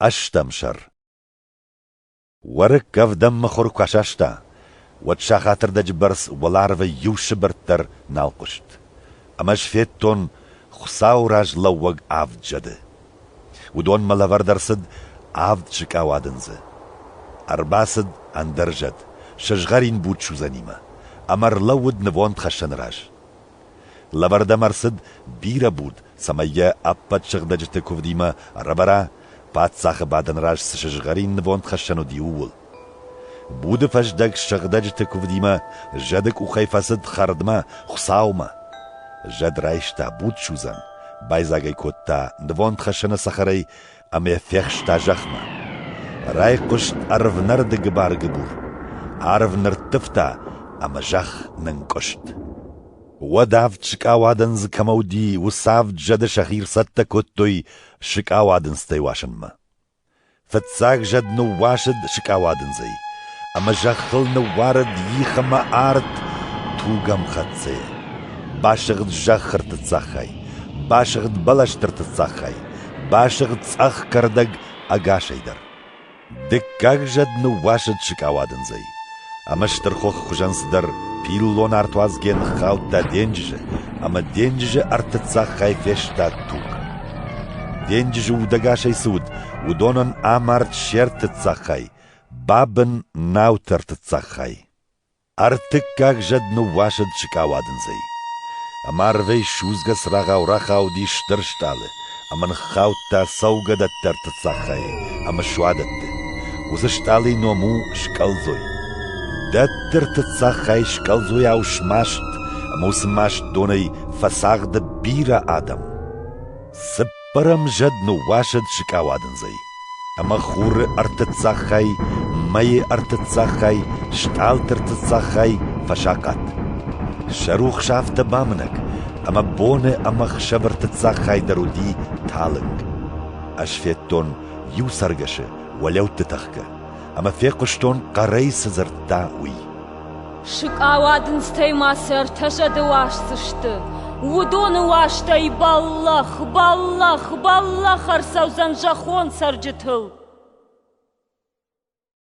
Ӕстӕм сӕр Уӕрыкк ӕвдӕм мыхуыр куы асаста, уӕд сахатырдӕджы бӕрц уӕларвы иу сыбыртт дӕр нал хъуыст, ӕмӕ сфедтон, Хуыцауы раз лӕууӕг авд зӕды. Уыдонмӕ лӕвӕрд ӕрцыд авд сыкъа уадындзы. Ӕрбацыд ӕндӕр зӕд, сызгъӕрин буц судзӕнимӕ, ӕмӕ ӕрлӕууыд нывондхӕссӕны раз. Лӕвӕрдӕм ӕрцыд бирӕ буд, цӕмӕй йӕ ӕппӕт сыгъдӕджыты куывдимӕ ӕрӕвӕра, паддзахы бадӕн раз цы сызгъӕрин нывондхӕссӕн уыди, ууыл. Буды фӕздӕг сыгъдӕджыты куывдимӕ зӕды къухӕй фӕцыд хӕрдмӕ, Хуыцаумӕ. Зӕд райста буд судзӕн, байдзаг ӕй кодта нывондхӕссӕны цӕхӕрӕй ӕмӕ фехста зӕхмӕ. Райхъуыст ӕрвнӕрды гыбар-гыбур, арв нырттывта ӕмӕ зӕхх нынкъуыст. Уӕд авд сыкъауадын дзы кӕмӕ уыди, уыцы авд зӕды сӕхи ӕрцӕттӕ кодтой сыкъауадындзтӕй уасынмӕ. Фыццаг зӕд ныууасыд сыкъауадындзӕй, ӕмӕ зӕххыл ныууарыд их ӕмӕ арт тугӕмхӕццӕйӕ. Басыгъд зӕххырты цӕххӕй, басыгъд бӕлӕстырты цӕххӕй, Басыгъд цъӕх кӕрдӕг ӕгасӕй дӕр. Дыккаг зӕд ныууасыд сыкъауадындзӕй, ӕмӕ стырхохы хуызӕн цыдӕр пиллон артуадзгӕ ныххаудта денджызы, ӕмӕ денджызы ӕртыццаггай фестад туг. Денджызы удӕгасӕй цы уыд, уыдонӕн амард се ртыццаг хай, бабын — науты ӕртыццаг хай. Ӕртыккаг зӕд ныууасыд сыкъауадындзӕй. Ӕмӕ арвӕй судзгӕ цырагъау рахауди стыр стъалы ӕмӕ ныххаудта цӕугӕдӕтты цаххайы ӕмӕ суадӕтты. Уыцы стъалыйы ном у Скъӕлдзой. Дӕттырты цаххайы скъӕлдзойау смаст ӕмӕ уыцы маст донӕй фӕцагъды бирӕ адӕм. Цыппар Хъырым зӕд ныууасыд сыкъауадындзӕй, ӕмӕ хуры ӕртыццагхай, мӕйы ӕртыццагхай, стъалыты ӕртыццагхай фӕсахъат. Сӕ рухс афтӕ бамынӕг, ӕмӕ боны ӕмӕхсӕвы ӕртыццагхай дӕр уыди талынг. Ӕз федтон иу цӕргӕсы уӕлӕутты тӕхгӕ. ӕмӕ фехъуыстон, хъӕрӕй цы дзырдта, уый. Сыкъауадындзтӕй ма цы ӕртӕ зӕды уасдзысты. Уыдоны уастӕй бӕллӕх, бӕллӕх, бӕллӕх ӕрцӕудзӕн зӕххон цӕрджытыл.